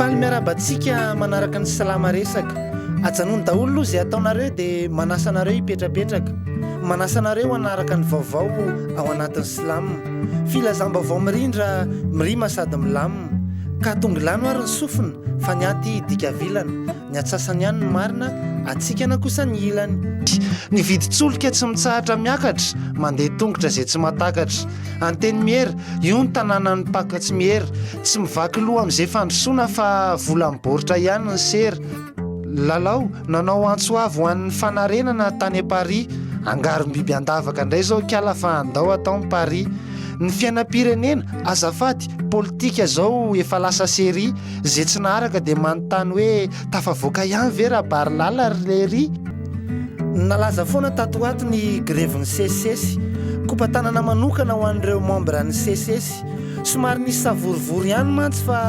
Faly miarahaba antsika manaraka ny salama resaka. Ajanony daholo aloha izay ataonareo dia manasa anareo hipetrapetraka. Manasa anareo hanaraka ny vaovao ao anatin'ny slam. Filazam-baovao mirindra, mirima sady milamina. Ka tongilano ary ny sofina fa ny aty dika vilana. Ny atsasany ihany ny marina, atsikana kosa ny ilany. Ny vidin-tsolika tsy mitsahatra miakatra, mandeha tongotra izay tsy mahatakatra. Antenimiera, io ny tanànan'ny mpaka tsy miera. Tsy mivaky loha amin'izay fandrosoana fa volan'ny baoritra ihany ny sera. Lalao, nanao antso avo ho an'ny fanarenana tany am-parihy. Angarom-biby an-davaka indray izao kala fa andao atao ny pari. Ny fiainam-pirenena, azafady, politika izao efa lasa serie. Ze tsy naharaka dia manontany hoe tafavoaka ihany ve Rabarilala ry Lery? Nalaza foana tato ho ato ny grevin'ny sesisesy. Kopa-tanana manokana ho an'ireo membres an'ny sesisesy. Somary nisy savorovoro ihany mantsy fa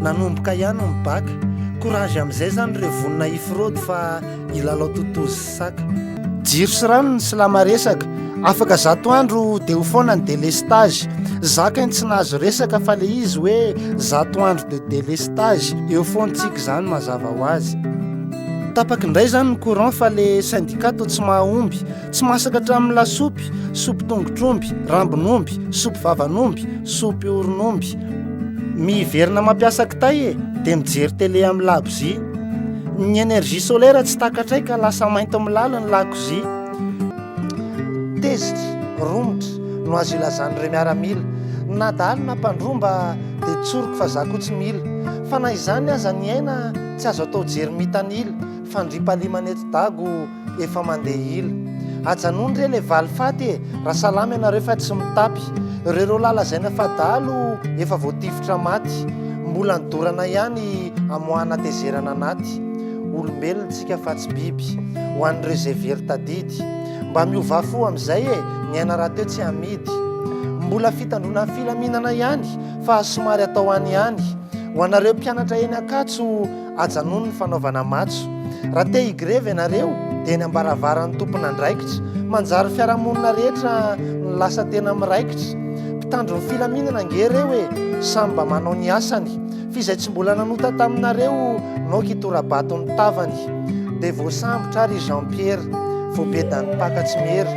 nanomboka ihany ny baka. Courage amin'izay izany ireo vonona hifraude fa hilalao totozy. Jiro sy rano ny silama resaka Afaka zato andro dia ho foana ny délestage Zaka ny tsy nahazo resaka fa le izy hoe zato andro de délestage Eo foana tsika izany mazava ho azy Tapaky indray izany ny courant fa le syndicat to tsy mahomby Tsy masaka hatramin'ny lasopy, sopy tongotr'omby, rambon'omby, sopy vavan'omby, sopy oron'omby Miverina mampiasa kitay e, dia mijery télé amin'ny lakozia. Ny énergie solaire tsy takatray ka lasa mainty milaly ny lakozia. Tezitra, romotra no azo ilazan'ireo miaramila. Na dahalo na mpandroa mba dia tsoriko fa za koa tsy mila. Fa na izany aza ny aina tsy azo atao jery mitanila, fandriampahalemana eto Dago. efa mandeha ila ajanony re le valifaty e raha salama ianareo fa tsy mitapy rereo lahy lazaina fa dahalo efa voatifitra maty mbola ny dorana ihany amoahana tezerana anaty olombelona tsika fa tsy biby ho an'ireo izay very tadidy mba miovà fo amin'izay e ny aina rahateo tsy amidy mbola fitandroana filaminana ihany fa somary atao any ihany ho anareo mpianatra eny ankatso Ajanony ny fanaovana matso. Raha te higrevy ianareo dia eny ambaravaran'ny tompon'andraikitra. Manjary fiarahamonina rehetra no lasa tena miraikitra. Mpitandro ny filaminana ange reo e! Samy mba manao ny asany. F'izay tsy mbola nanota taminareo naoka hitora-bato ny tavany. Dia voasambotra ary i Jean Pierre. Voabedan'ny mpaka tsy miery.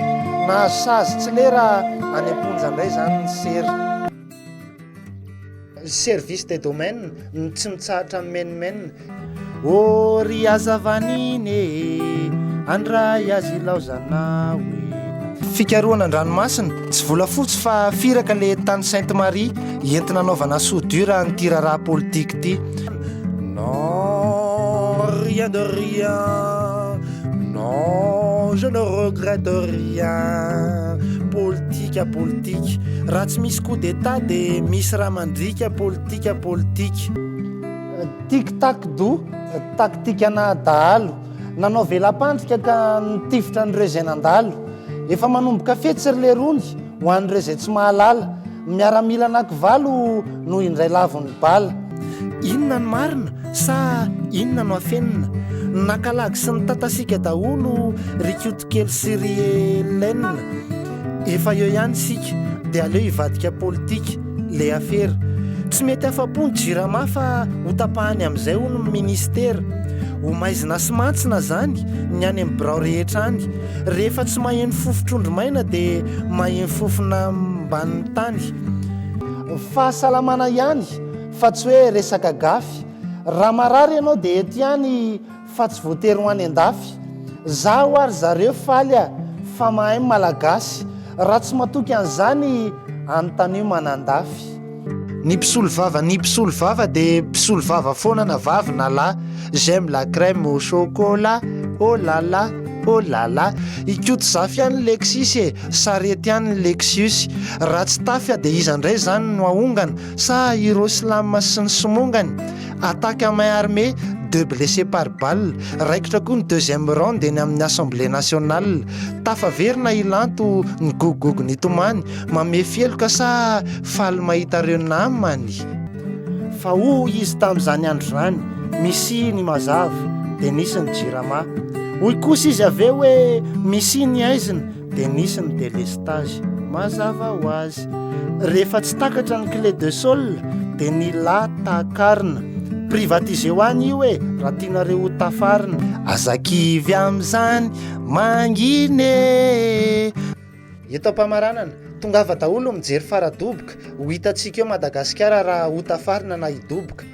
Nahazo sazy tsy lera any am-ponja indray izany ny sery. Service des domaines no tsy mitsahatra mimenomenona. Ô ry hazavan'iny e, andray azy ilaozanao e. Fikarohana an-dranomasina, tsy volafotsy fa firaka le tany Sainte Marie entina anaovana soudure an'ity raharaha politique ity. Non, rien de rien. Non je ne regrette rien Politika politika Raha tsy misy coup d'état de misy raha mandriaka Politika politika Tic tac do Taktikana dahalo Nanao vela-pandrika ka nitifitra an'ireo izay nandalo Efa manomboka fetsy ry lerony Ho an'ireo izay tsy mahalala, miaramila anakivalo no indray lavon'ny bala. Inona no marina sa inona no afenina? Nakalagy sy nitatasiaka daholo ry Koto kely sy ry Hélène. Efa eo ihany isika dia aleo hivadika politika le afera. Tsy mety afa-po ny Jirama fa ho tapahany amin'izay hono ny Minisitera. Ho maizina sy mantsina izany ny any amin'ny birao rehetra any. Rehefa tsy maheno fofo trondro maina dia maheno fofona ambanin'ny tany. Fahasalamana ihany fa tsy hoe resaka gafy. Raha marary ianao dia eto ihany fa tsy voatery ho any an-dafy. Zaho ary zareo faly a! fa mahay malagasy. Raha tsy matoky an'izany anontanio manandafy. Ny mpisolo vava Ny mpisolo vava dia mpisolo vava foana na vavy na lahy J'aime la crème au chocolat Oh la la, oh la la I Koto Zafy any ny Lexus e Sarety any ny Lexus Raha tsy tafia dia iza indray izany no hahongana Sa i Roslam sy ny somongany Attaque à main armée Deux blessés par balle Raikitra koa ny deuxième round eny amin'ny Assemblée Nationale Tafaverina i Lanto Nigogogogo nitomany Mamefy heloka sa faly mahita reo namany? Fa hoy izy tamin'izany andro izany, Misy ny mazava, dia nisy ny jirama. Hoy kosa izy avy eo hoe, Misy ny aizina, dia nisy ny delestazy. Mazava ho azy. Rehefa tsy takatra ny clé de sol, dia ny la takarina. Privatiseo any io e, raha tianareo ho tafarina. Aza kivy amin'izany mangina e! Eto am-pamaranana, tongava daholo mijery fara-doboka, ho hitantsika eo Madagasikara raha ho tafarina na hidoboka.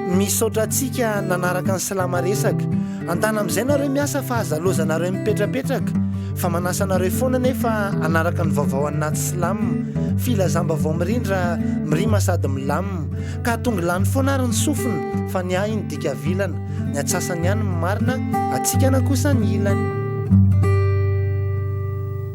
Misaotra antsika nanaraka ny Silama resaka. Antana amin'izay nareo miasa fa aza laozanareo mipetrapetraka fa manasa anareo foana nefa hanaraka ny vaovao any naty Silam. Filazam-baovao mirindra, mirima sady milam. Ka tongy lany foana ary ny sofina fa ny ahy iny dika vilana. Ny antsasany ihany no marina, atsikana kosa ny ilany.